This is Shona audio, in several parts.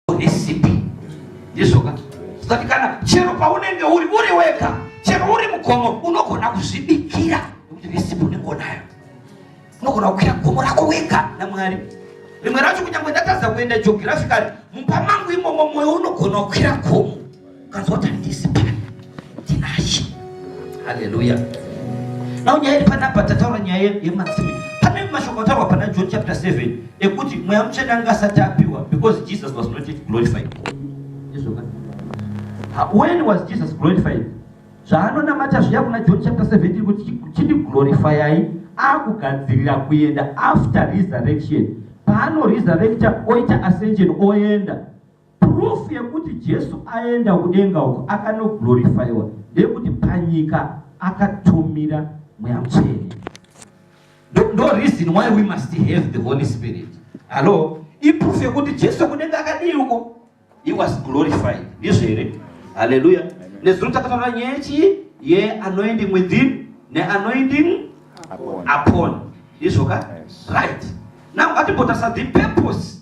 unesp ndizvoka zati kana chero paunenge uri uri wega chero uri mugomo unogona kuzvibikira nekuti nesipo unenge unayo unogona kukwira gomo rako wega namwari rimwe racho kunyange ndatadza kuenda jogirafikari mumba mangu imomo mwoyo unogona kukwira gomo Kazoti handisi pano Tinashe. Hallelujah. Now nyaya iri panapa tataura nyaya yematsime. Pane mashoko ataurwa pana John chapter 7 ekuti mweya mutsvene anga asati apiwa because Jesus was not yet glorified. When was Jesus glorified? Zvaanonamata zviya kuna John chapter 17 kuti chindi glorifyai akugadzirira kuenda after resurrection. Paano resurrecta oita ascension oenda Proof yekuti Jesu aenda kudenga uko akanoglorifyiwa ndeyekuti panyika akatumira mweya mutsvene. Ndo reason why we must have the Holy Spirit. Hello? Iproof yekuti Jesu kudenga akadii uko? He was glorified. Ndizvo here? Hallelujah. Nezuro takataura nyaya chii? Ye anoending within ne anoending upon. Upon. Ndizvo ka? Right. Now ngatimbotarisa the purpose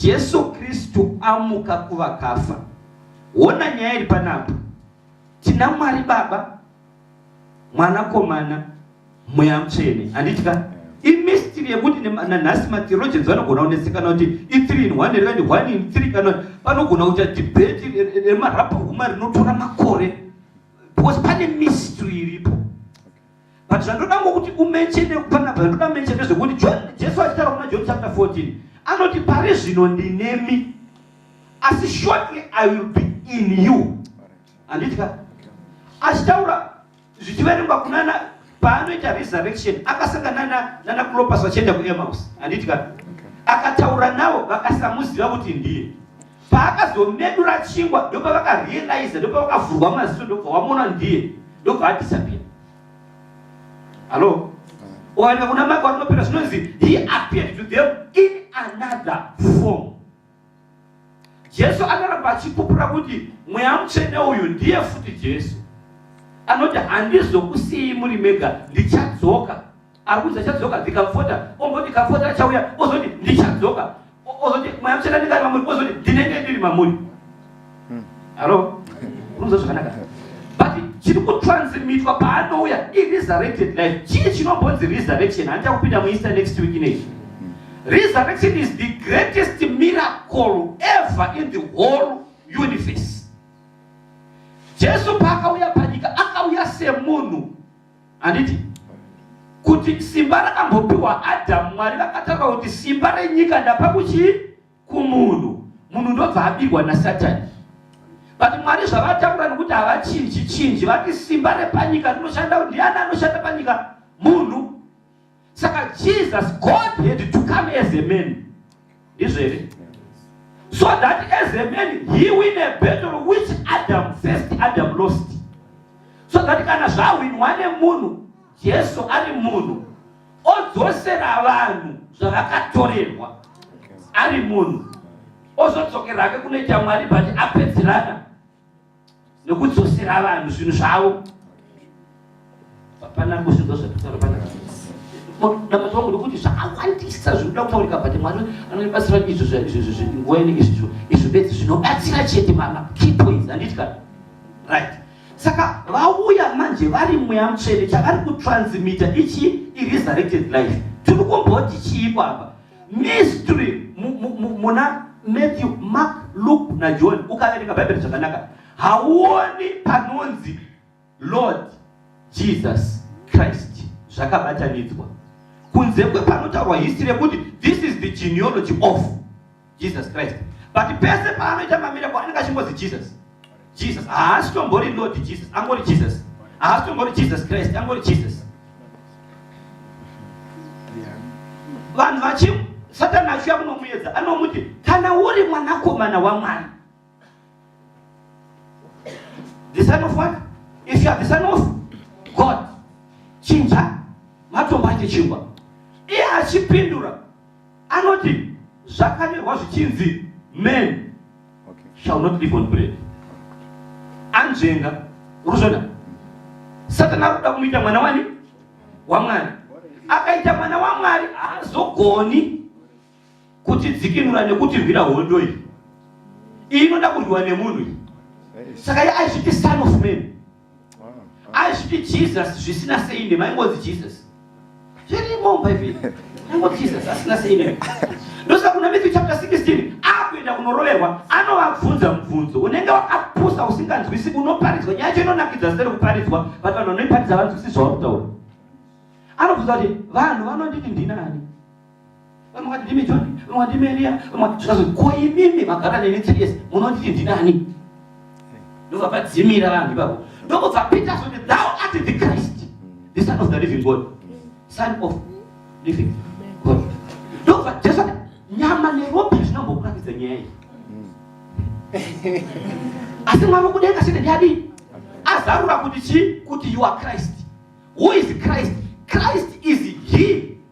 Jesu Kristu amuka kuvakafa. Hona nyaya iri panapa. Tina Mwari Baba, Mwanakomana, Mweya Mutsvene. Handitya? imistiri yekuti nanhasi matheologians vanogona kunesekana kuti ithree in one here one in three kana panogona kuita debate remarapa huma rinotora makore because pane mistry iripo but zvandoda ngokuti umenchene panapa zvandoda menche ndezvekuti john jesu achitaura kuna john chapter 14 anoti pari zvino ndinemi asi shortly i will be in you handitika achitaura zvichiverengwa kunana paanoita resurrection akasangana nana clopas vachienda kuemaus handitika akataura navo vakasamuziva kuti ndiye paakazomedura chingwa ndobva vakarealiza ndobva vakavhurwa maziso ndobva wamona ndiye ndobva adisapia hallo oanika kuna maka warinopera zvinonzi he appeared to them in another form jesu anoramba achipupura kuti mweya mutsvene uyu ndiye futi jesu anoti handizokusiyi muri mega ndichadzoka akuudza chadzoka ndikamfota omboti kamfota achauya ozoti ndichadzoka ozoti mweya muchena ndingari mamuri ozoti ndinenge ndiri mamuri hmm. halo unoza zvakanaka but chiri kutransmitwa paanouya iresurrected life chii chinombonzi resurrection handita kupinda mueaster next week inei hmm. resurrection is the greatest miracle ever in the whole universe jesu paakauya panyika akauya semunhu handiti kuti simba rakambopiwa adhamu mwari vakataura kuti simba renyika ndapa kuchii kumunhu munhu ndobva abirwa nasatani but mwari zvavataura nokuti havachinji chinji vati simba repanyika rinoshanda ndiani anoshanda panyika munhu saka jesus god had to come as a man ndizvo here so that as a man he win a battle which adam first adam lost so that kana zvahwinwa nemunhu jesu ari munhu odzosera vanhu zvavakatorerwa ari munhu ozodzokera hake kunoita mwari but apedzerana nekudzosera vanhu zvinhu zvavo hapana kusvika zvakutaura pana dambudziko wangu ndokuti zvakawandisa zvinoda kutaurika but mwari anobatsira izvo nguva inenge izvizvo izvo bedzi zvinobatsira chete mama key points handiti kana right saka vauya manje vari mweya mutsvene chavari kutransmita ichi iresurrected life tiri kumboti chii kwapa mystery muna Matthew, Mark, Luke naJohn ukaverenga Bhaibheri zvakanaka hauoni panonzi Lord Jesus Christ zvakabatanidzwa kunze kwepanotaurwa history yekuti this is the genealogy of Jesus Christ but pese paanoita mamireko anenge achingozwi Jesus Jesus haasi tombori Lord Jesus angori Jesus haasi tombori Jesus Christ angori Jesus vanhu vachi satani achiuya kunomuedza anomuti kana uri mwanakomana wamwari the son of what if you are the son of God chinja matombo achichingwa iye achipindura Anoti zvakanyorwa zvichinzi men okay. shall not live on bread. Anzvenga, uruzvona. Satana arikuda kumuita mwana wani? WaMwari. Akaita mwana waMwari haazogoni kutidzikinura nekuti rwira hondo iyi iyi inoda kurwiwa nemunhu saka ye aizviti son of man azviti jesus zvisina sei nde maingozi jesus zvirimo bhaibheri aingozi jesus asina sei ne ndosa kuna matthew chapter 16 akuenda kunoroverwa anovabvunza mubvunzo unenge wakapusa usinganzwisi unoparidzwa nyaya yacho inonakidza zita rekuparidzwa vati vanhu vanoiparidza vanzwisi zvauri kutaura anobvunza kuti vanhu vanonditi ndinani Vamwe vati ndimi John, vamwe vati ndimi Elia, vamwe vati zvikazi ko imimi magara neni three years munonditi ndinani? Ndobva padzimira vanhu ipapo. Ndokubva Peter kuti thou art the Christ, the son of the living God, son of living God. Ndobva Jesu ati nyama neropa zvinambokuratidza nyaya iyi. Asi mwari kudenga sine ndiyadii? Azarura kuti chii? Kuti you are Christ. Who is Christ? Christ is he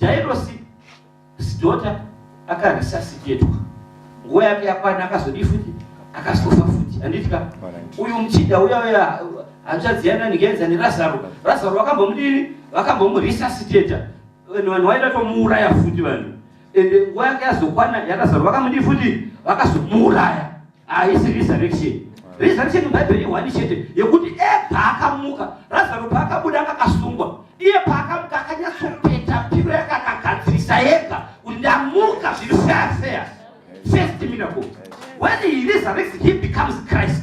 Jairosi sidhota akarisasitetwa nguva yake yakwana akazodii futi akazofa futi handitika uyu muchinda uya uya hanzvadzi yana ndigenza nerazaro razaro vakambomudini vakambomurisasidheta vanhu vanhu vaida tomuuraya futi vanhu ende nguva yake yazokwana yarazaro vakamudii futi vakazomuuraya haisi resurrection resurrection mubhaibheri ihwani chete yekuti epaakamuka razaro paakabuda akakasungwa iye paakamuka akanyatsopeta piro yakanagadzirisa yega kuti ndamuka zviri fair fair first miracle when he resurrects he becomes christ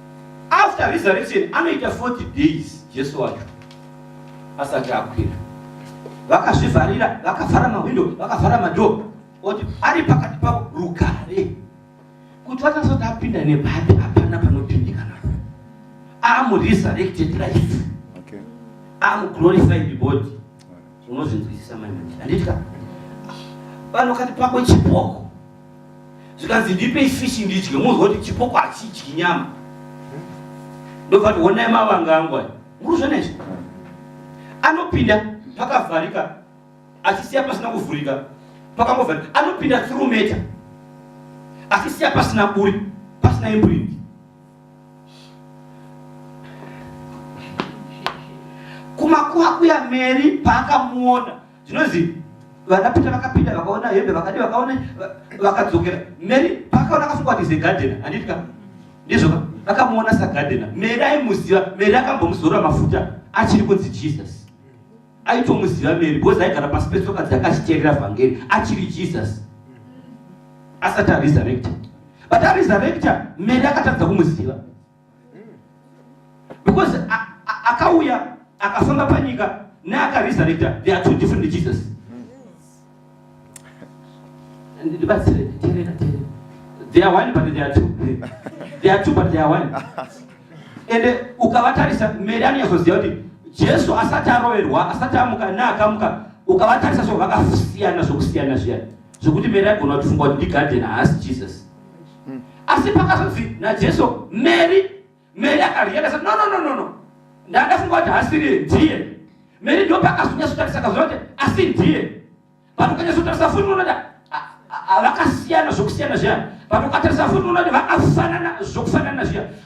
after resurrection anoita 40 days jesu wacho asati akwira vakazvivharira vakavhara mahwindo vakavhara madhoo oti ari pakati pavo rugare kuti vatasati apinda nepapi hapana panopindikana amu resurrected life okay. amu glorified body unozvinzwisisa mai handiti ka vanokati pako chipoko zvikanzi ndipei fishi ndidye munzwa kuti chipoko hachidyi nyama ndobva ti honai mavanga angu aya muruzvona izvi anopinda pakavharika achisiya pasina kuvhurika pakangovharika anopinda thurumeta achisiya pasina buri pasina imprint kumakuha kuya meri paakamuona Zvinonzi vana Peter vakapinda vakaona hembe vakadi vakaona vakadzokera. Mary pakaona akafunga kuti ze gardener handiti ka? Ndizvo ka? Vakamuona sa gardener. Mary aimuziva, Mary akambomuzora mafuta achiri kunzi Jesus. Aitomuziva Mary because aigara pasi petsoka dzake achiteerera vhangeri achiri Jesus. Asati aresurrected. But aresurrected Mary akatadza kumuziva. because akauya akafamba panyika neakaresurrecta they are two different jesus ndibatsire terera terera they are one but they are two they are two but they are one and eh, ukavatarisa mary anonyatsoziva kuti jesu asati aroverwa asati amuka neakamuka ukavatarisa so vakasiyana zvokusiyana zviyani zvokuti mary aigona kutifunga kuti ndigadheni haasi jesus mm. asi pakazonzi najesu mary mary akariyenda sa no no no no no ndandafunga kuti hasiriye ndiye mary ndo pakazonyatsotarisa kazoona kuti asi ndiye but ukanyatsotarisa futi unoda vakasiyana zvokusiyana zviya but ukatarisa futi unoda vakafanana zvokufanana zviya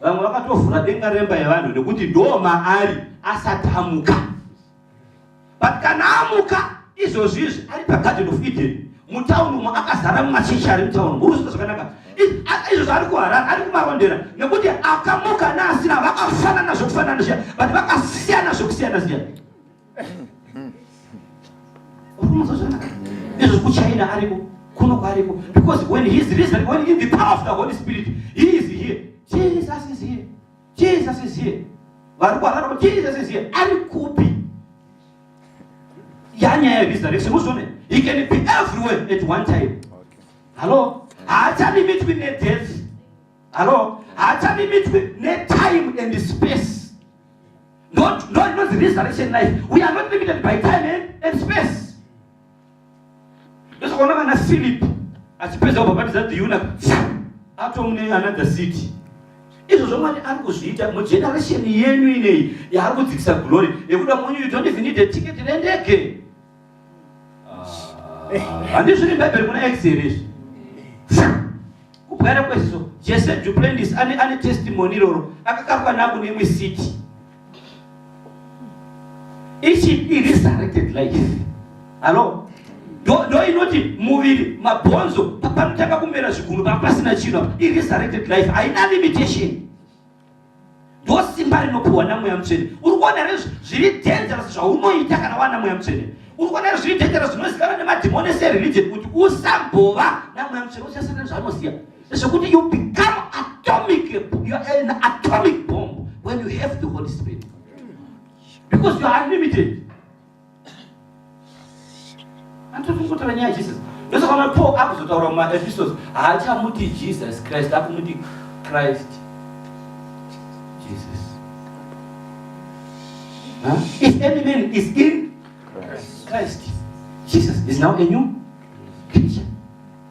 vamwe vakatovhura denga remba yevanhu nekuti ndoo maari asati amuka but kana amuka izvozvi izvi ari pagarden of eden mutauni umo akazara mumachechi ari mutauni muruziva zvakanaka izvozvo ari kuharara ari kumarondera nekuti akamuka naasina vakafanana zvokufanana zviya but vakasiyana zvokusiyana zviya Ndizvo kuchina ariko kuno kwariko because when he is risen when in the power of the Holy Spirit he is here Jesus is here Jesus is here vari kwarara kuti Jesus is here ari kupi yanyaya yeresurrection muzvione he can be everywhere at one time hallo haachalimitwi nedeath hallo haachalimitwi netime and space Not, not, not the resurrection life. We are not limited by time and, and space. Ndosokuona kana Philip achipedza kubhabhatidza the eunuch atomune another city. Izvo zvomwari ari kuzviita mugeneration yenyu ineyi yaari kudzikisa glory yekuda munyu you don't even need a ticket nendege. handizviri ah, bhaibheri muna x here izvi kubwara kweziso jese juplendis ane testimony iroro akakarwa nako neimwe city ichi iresurrected life alo ndo inoti muviri mabhonzo panotanga kumera zviguru panga pasina chino iresurrected life haina limitation ndosimba rinopiwa namweya mutsvene uri kuona here zviri dangerous zvaunoita kana wana mweya mutsvene uri kuona here zviri dangerous zvinozikanwa nemadhimoni ese ereligion kuti usambova namweya mutsvene uchasiyana nezvaanoziva zvekuti you become atomic you are an atomic bomb when you have the holy spirit because you are unlimited Antofukutoranya Jesus. Ndosaka Paul akuzotaura muma epistles haachamuti Jesus Christ akumuti Christ Jesus. Huh? If any man is in Christ. Christ, Jesus is now a new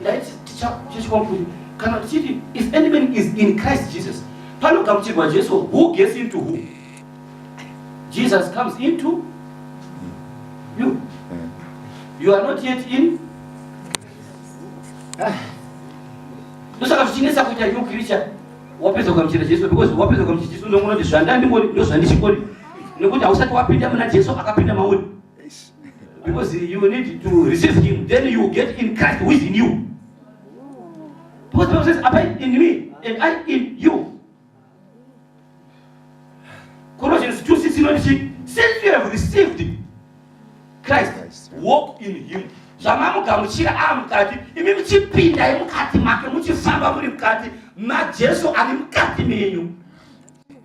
ndaiti tichachikwamuri kana tichiti if any man is in christ jesus panogamuchirwa jesu who gets into who jesus comes into you you are not yet in ah. ndosaka zvichinetsa kuita new creature wapedza kugamuchira jesu because wapedza kugamuchira jesu unoona kuti zvandandingori ndozvandichingori nekuti hausati wapinda muna jesu akapinda mauri Because you need to resist him, then you get in Christ who is in you. Because Bible says, abide in me and I in you. Colossians 2 6 you know, since you have received Christ, walk in him. zvamamugamuchira ava mukati imi muchipindai mukati make muchifamba muri mukati majesu ari mukati menyu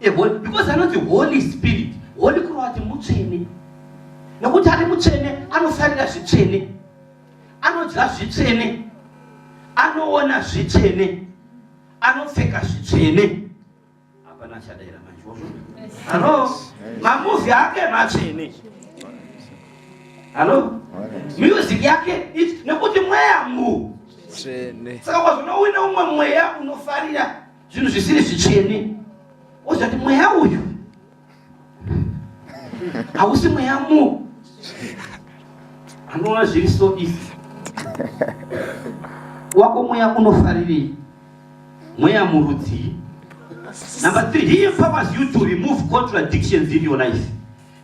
The Holy, because anonzi Holy Spirit. Holy kureva kuti mutsvene. Nekuti ari mutsvene anofarira zvitsvene. Anodya zvitsvene. Anoona zvitsvene. Anopfeka zvitsvene. Hapana chadaira manje. Halo. Mamuvi ake matsvene. Halo. Music yake nekuti mweya mu. Tsvene. Saka kwazvo unowina umwe mweya unofarira zvinhu zvisiri zvitsvene wozvati mweya uyu hausi mweya mu anoona zviri so easy wako mweya unofarirei mweya murudzii number three he empowers you to remove contradictions in your life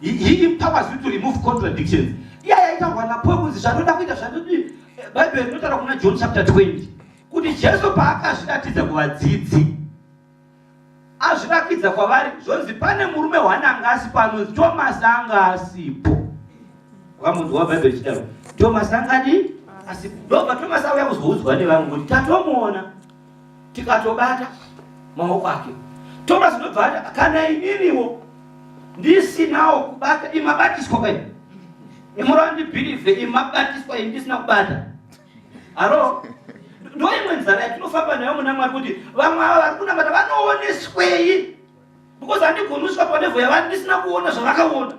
he, he empowers you to remove contradictions iya yaitaurwa napoe kunzi zvanoda kuita zvanodii bhaibheri rinotaura kuna john chapter 20 kuti Jesu paakazviratidza kuvadzidzi azvirakidza kwavari zvonzi pane murume wananga asipo anonzi Tomasi anga asipo vamunhu wabhaibheri richidaro Tomasi angadi asipo ndobva Tomasi auya kuzoudzwa nevamwe kuti tatomuona tikatobata maoko ake Tomasi ndobva ati kana ininiwo ndisinawo kubata imabatiswa kai imurandibhilivhe imabatiswa indisina kubata Haro, ndoimwe nzara yatinofamba nayo muna Mwari kuti vamwe ava vari kunamata vanooneswei because handigoni kusvika panevo yavari ndisina kuona zvavakaona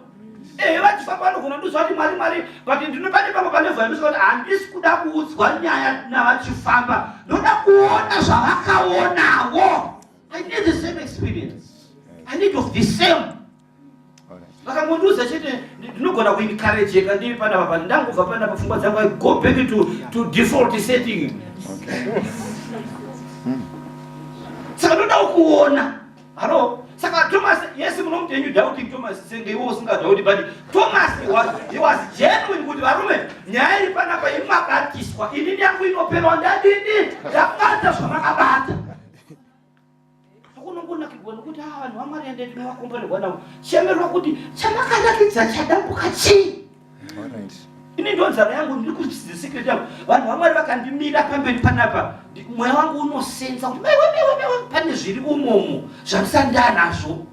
ehe vachifamba vanogona ndizva kuti mwari mwari but ndinopane pamwe panevo yandisvika kuti handisi kuda kuudzwa nyaya navachifamba ndoda kuona zvavakaonawo i need the same experience i need of the same vakangondiudza chete ndinogona kuencourageka ndiri panapa pa ndangobva panapa pfungwa dzangu i go back to, to default setting saka ndodawo kuona halo saka thomas yes munomuti enyu doubting thomas senge iwo usingadhauti but thomas he was genuine kuti varume nyaya iri panapa imabatiswa ini nyangu inoperwa ndadini ndakubata zvamakabata kunongonakirwa nokuti haa vanhu vamwari ende tinovakomborerwa navo chemerwa kuti chamakanakidza chadambuka chii ini ndo nzara yangu ndiri kuzvidzidza secret yangu vanhu vamwari vakandimira pamberi panapa mweya wangu unosenza kuti maiwe maiwe maiwe pane zviri umomo zvandisandaa nazvo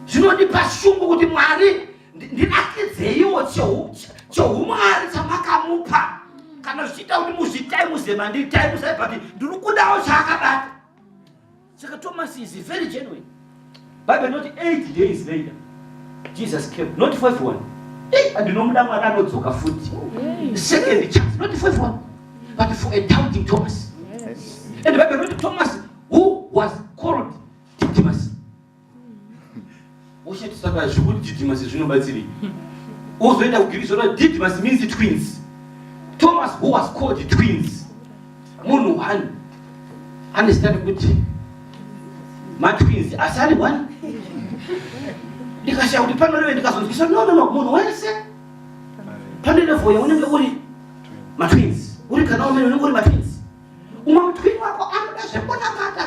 zvinondipa shungu kuti mwari ndinakidzeiwo choumwari chamakamupa kana zvichiita kuti muzvitai muzema nditai muzai but ndiri kudawo chaakabata saka thomas is very genuine bible not eight days later jesus came not five one andinomuda mwari anodzoka futi second chance not five one but for a doubting thomas and bible not thomas who was called Ushatisa pa zvikuti Didymus zvinobatsirei? Uzoenda kugiri zvona Didymus means twins. Thomas who was called twins. Munhu one ane zita rekuti matwins asi ari one. Ndikashaya kuti panoreve ndikazonzwisa no no no munhu wese pane level yaunenge uri matwins uri kana umene unenge uri matwins umwe mutwini wako anoda zvekunamata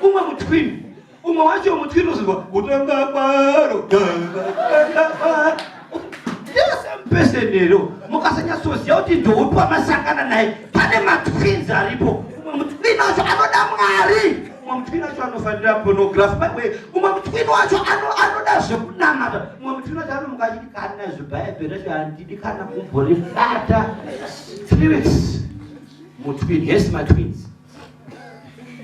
umwe mutwini umwe wacho mutwini uzinwa kutanga kwaro pesenero mukasanyatsoziva kuti ndoupi wamasangana naye pane matwins aripo umwe mutwini wacho anoda mwari mumwe mutwini wacho anofanira pornography by way mumwe mutwini wacho anoda zvekunamata mumwe mutwini wacho anomuka achiti kana zvebhaibheri racho handidi kana kumborifata spirits mutwini yes matwins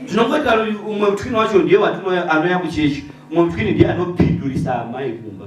tinongoita umwe mutwini wacho ndiye watinoanoya kuchechi umwe mutwini ndiye anopindurisa amai kumba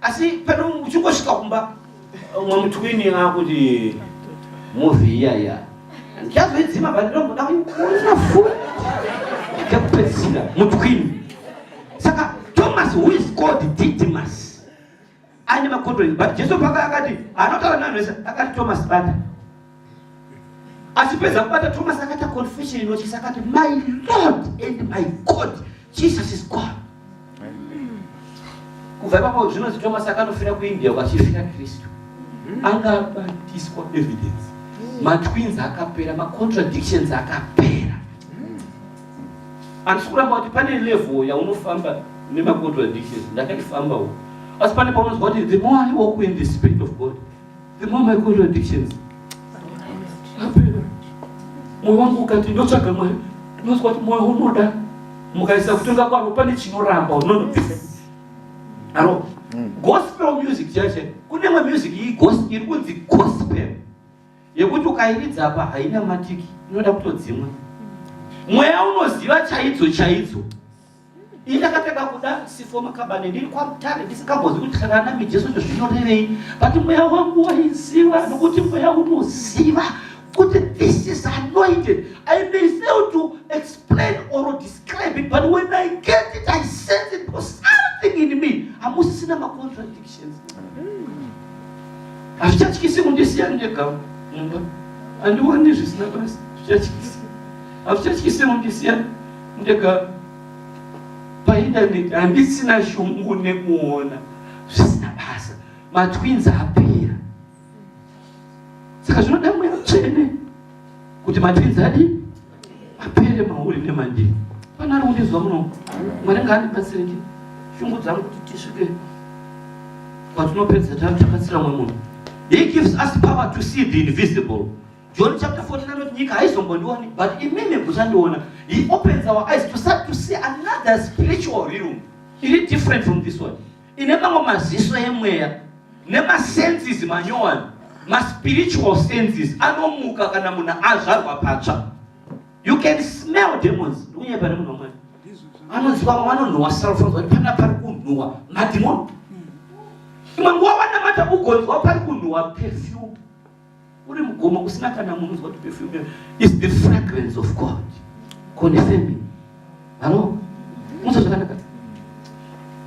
asi pano uchingosvika kumba umwe mutwini akuti movie iya iya ndichazoidzima but ndoda kuona futi ndekupedzisira mutwini saka thomas who is called didymas aine macontrol but jesu paka akati anotaura nanhu vese akati thomas bata achipedza kubata thomas akaita confession inotyisa akati my lord and my god jesus is god kubva ipapo zvinonzi thomas akanofira kuindia kwachifira kristu anga abatiswa evidence matwins akapera macontradictions akapera handisi kuramba kuti pane level yaunofamba nemacontradictions ndakaifambawo asi pane paunonzwa kuti the more i walk in the spirit of god The more my contradictions happen, moyo wangu ukati ndotsvaga Mwari, ndinonzwa kuti moyo unoda mukaisa kutonga kwaro pane chinoramba unono aro mm. gospel music chache kune imwe music iyi iri kunzi gospel yekuti ukairidza apa haina matiki inoda kutodzimwa mweya unoziva chaidzo chaidzo ini ndakapfeka kuda sifo makabane ndiri kwamutare ndisingambozi kuti kana mijesu izvo zvinorevei but mweya wangu waiziva nokuti mweya unoziva kuti this is anointed i may fail to explain or describe it but when i get it i sense it for something in me hamusisina macontradictions hazvichatyisi kundisiya ndega mumba handioni zvisina basi zvichatyisi hazvichatyisi kundisiya ndega paindaneti handisina shungu nekuona zvisina basa matwins apera saka zvinoda mweya tsvene kuti matwins adi apere mauri nemandii pane ari kundinzwa muno mwari ngaandibatsireke shungu dzangu kuti tisvike kwatinopedza tari takatsira mwe munhu he gives us power to see the invisible John chapter 14 anoti nyika haizombondioni but imimi muchandiona. He opens our eyes to start to see another spiritual realm. Iri different from this one. Ine mamwe maziso emweya nemasenses manyowani maspiritual senses anomuka kana munhu azvarwa patsva. You can smell demons. Ndikunyaya pane munhu wamwari. Anoziva vamwe vanonhuwa self kuti pana pari kunhuwa madhimoni. Imwe nguva wanamata ugonzwa pari kunhuwa perfume. uri mugomo kusina kana munhu uzwa kuti perfume is the fragrance of god confirming halo musa zvakanaka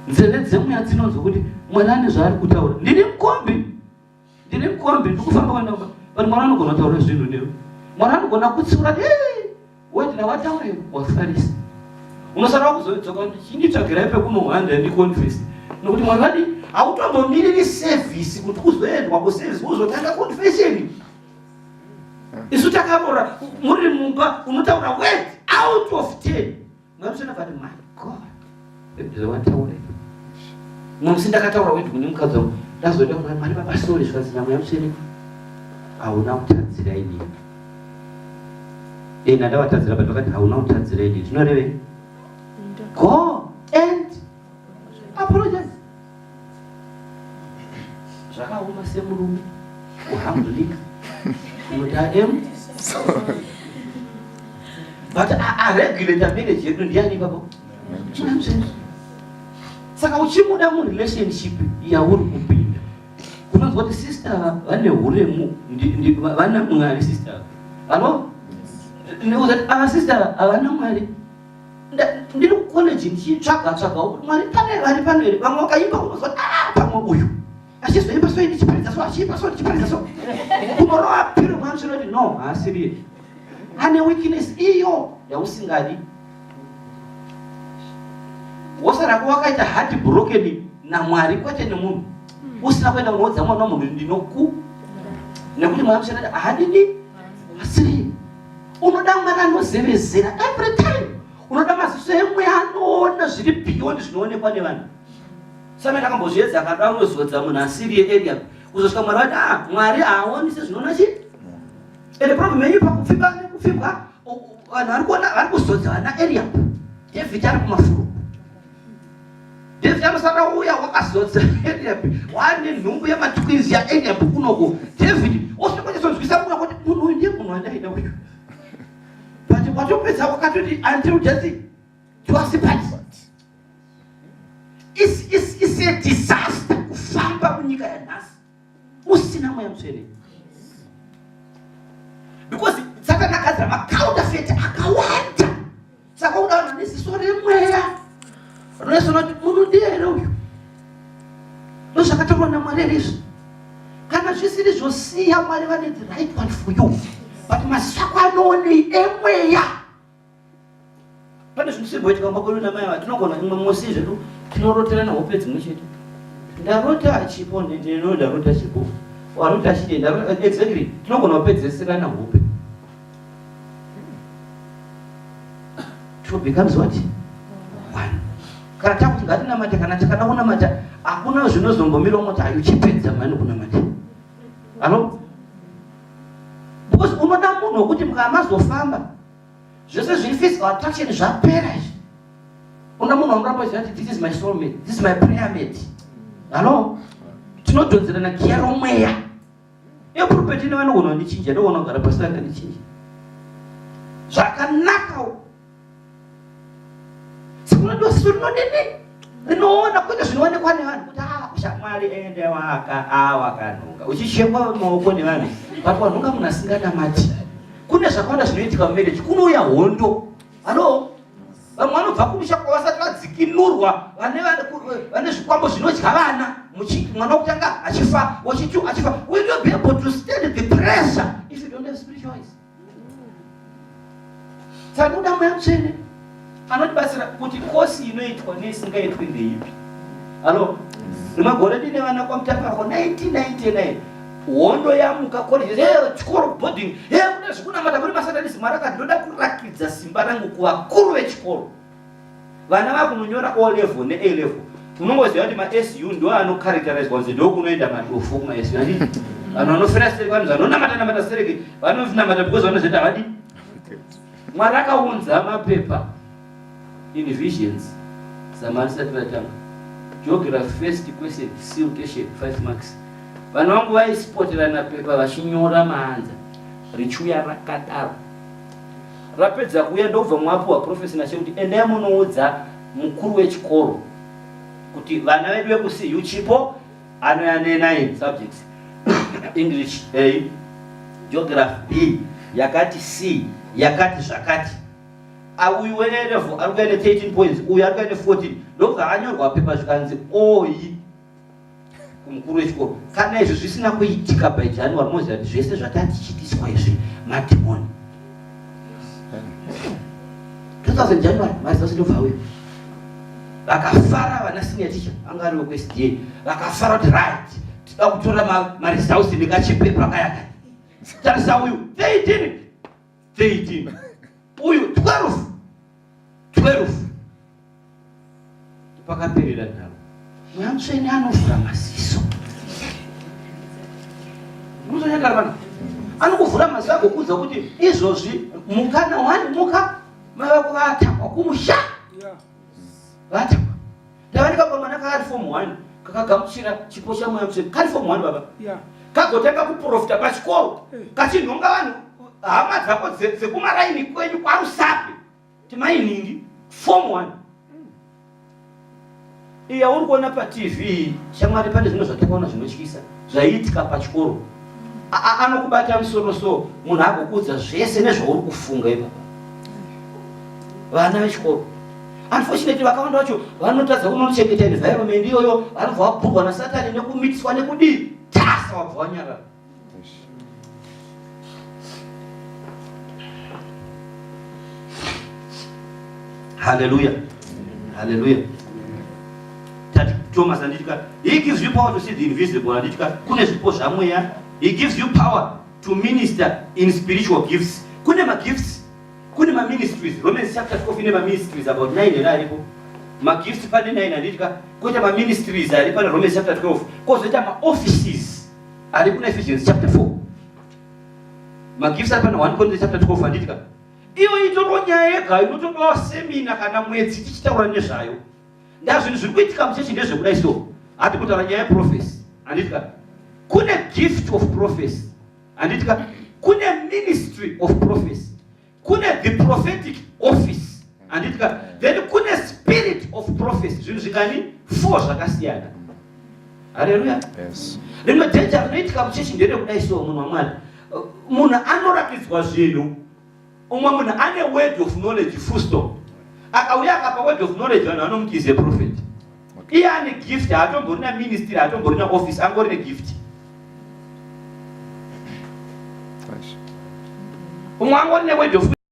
nzeve dzemweya dzinonzwa kuti mwari ane zvaari kutaura ndine mukombi ndine mukombi ndikufamba kwandakuba but mwari anogona kutaura zvinhu newe mwari anogona kutsiura What ndawataure wafarisa. Unosara kuzodzoka kuti chinditsvagirai pekunohwanda ndi confess. Nokuti mwana wadi hautombomiriri service kuti kuzoendwa ku service uzotanga confession. Isu takabora muri mumba unotaura word out of 10. Mweya mutsvene akati my God zvawataura musi ndakataura kuti kune mukadzi wangu ndazoda kuti mari baba sorry zvikanzi na mweya mutsvene hauna kutadzira inini ena ndavatadzira but vakati hauna kutadzira inini zvinorevei go apologize zvakaoma semurume kuhambunika kuti am but aregulate marriage yedu ndiani ipapo saka uchimuda murelationship yauri kupinda kunonzwa kuti sister vane uremu vana mwari sister vano neuza ava sister havana mwari ndiri kucollege ndichitsvaga tsvaga kuti mwari pane vari pano here vamwe vakaimba unoziva ah, pamwe uyu achizoimba so ndichiparidza so achiimba so ndichiparidza so kumorova piro mwana chinoti no haasiriye ane weakness iyo yausingadi wosarako wakaita hard broken namwari kwete nemunhu usina kuenda kunoudza mwana wamunhu ndinoku nekuti mwana muchanati ahadidi asiriye unoda mwana anozevezera every time unoda maziso emweya anoona zviri beyond zvinoonekwa nevanhu samene akambozviedza akada unozodza munhu asiri yearea kuzosvika mwari vati a ah, mwari haaoni sezvinoona chii ende problem yenyu pakupfimba nekupfimbwa vanhu vari kuona vari kuzodza vana area david ari kumafuro David usada uya wakazodza Eliab wane nhumbu yematwinzi yaEliab kunoko David osvikochizonzwisa kuda kuti munhu uyu ndiye munhu wandaida uyu but watopedza wakatoti until death to us part is is is a disaster kufamba munyika yanhasi usina mweya mutsvene because satani akadzira macounterfeit akawanda saka uda vanhu vane ziso remweya vanonesona kuti munhu ndiye here uyu ndozvakataurwa namwari here izvi kana zvisiri zvosiya mwari vane the right one for you but masako anoonei emweya pane zvinhu zvimboitika kumba kwedu namai vake tinogona imwe musi zvedu tinoroterana hope dzimwe chete ndarota achipo ndinoo ndarota chipo arota achide exactly tinogona kupedzeserana hope two becomes what one kana takuti ngatinamate kana takada kunamata hakuna zvinozombomira umoti ayi uchipedza mani kunamata ano because unoda munhu wekuti mukamazofamba zvese zviri physical attraction zvapera izvi una munhu wamuramba uchiziva kuti this is my soul mate this is my prayer mate hallo tinodhonzerana giya romweya epurupeti nevanogona kundichinja ndogona kugara pasi vanga ndichinja zvakanaka sikunotiwa siso rinodini rinoona kwete zvinoonekwa nevanhu kuti ah, shamwari ende waka awakanhunga ah, uchichekwa maoko nevanhu but wanhunga munhu asinganamati kune zvakawanda zvinoitika mumereji kunouya hondo halo vamwe vanobva kumusha kwavasati vadzikinurwa vane zvikwambo zvinodya vana mwana wokutanga achifa wachitu achifa will you be able to stand the pressure if you don't have spiritual eyes saka kuda mweya mutsvene anotibatsira kuti kosi inoitwa neisingaitwi ndeipi alo nemagore dine vana kwamutapako 1999 hondo yamuka koleje chikoro boarding kuda zvekunamata kuri masatanisi mwari akandoda kurakidza simba rangu kuvakuru vechikoro vana vakunonyora o level ne a level unongoziva kuti masu ndo anokaritaridzwa kunzi ndokunoenda madofu kumasu anii vanhu vanofira sereke vanhu vanonamata namata sereke vanonamata because vanozoita havadi mwari akaunza mapepa in visions zamani sati vatanga geography first question siltation five marks vanhu vangu vaisipoterana pepa vachinyora maanza richiuya rakadaro Vapedza kuuya ndokubva mwapuwa prophecy naShe kuti endai munoudza mukuru wechikoro kuti vana vedu vekuCU Chipo anouya ne9 subjects English A, Geography B, yakati C, yakati zvakati. Auyu wene level ari kuya ne 13 points, uyu ari kuya ne 14. Ndokubva anyorwa pepa zvikanzi oyi. kumukuru wechikoro kana izvi zvisina kuitika by january moziva kuti zvese zvatatichitiswa izvi madhimoni 2000 january mari dzose ndobva uyo vakafara vana senior teacher anga ari wekwesda vakafara kuti right tida kutora maresults nekachipepa kayaka tarisa uyu they didn't 13 uyu 12 12 pakaperera nharo mweya mutsvene anovhura maziso muzonyagara vanhu anokuvhura maziso agokuudza kuti izvozvi mukana wani muka mai vako vatakwa kumusha vatakwa Ndavani kakomana kaari form 1 kakagamuchira chipo chamweya mutsvene kari form 1 baba yeah. kagotanga kuprofita pachikoro hey. Eh. kachinhonga vanhu hama dzako dzekumaraini kwenyu kwarusapi timainingi form 1 iya uri kuona patv shamwari pane zvimwe zvatakaona zvinotyisa zvaiitika pachikoro anokubata musoro so munhu agokuudza zvese nezvauri kufunga ipapa vana vechikoro Unfortunately vakawanda vacho vanotadza kunochengeta environment iyoyo, vanobva vapurwa naSatani nekumitiswa nekudii tasa wabva wanyarara. Hallelujah. Hallelujah. Tati Thomas anditi ka, he gives you power to see the invisible anditi ka, kune zvipo zvamweya, he gives you power to minister in spiritual gifts. Kune magifts kune maministries romans chapter 4 ine maministries about 9 here aripo magifts pane 9 handitya koita maministries ari pana romans chapter 12 kozoita maoffices ari kuna ephesians chapter 4 magifts ari pana 1 corinthians chapter 12 handitya iyo itorwa nyaya yega inotodawa semina kana mwedzi tichitaura nezvayo ndazvinhu zviri kuitika muchechi ndezvekuda iso hati kutaura nyaya yeprofesi handitya kune gift of profesi handiti ka kune ministry of prophecy kune the prophetic office handiti ka then kune spirit of prophecy zvinhu zvikani four zvakasiyana haleluya rimwe dhenja rinoitika muchechi nderekudai so munhu wamwari munhu anoratidzwa zvinhu umwe munhu ane word of knowledge fusto akauya akapa word of knowledge vanhu vanomuti is a prophet iye ane gift haatombori na ministry haatombori na office angori ne gift umwe angori ne word of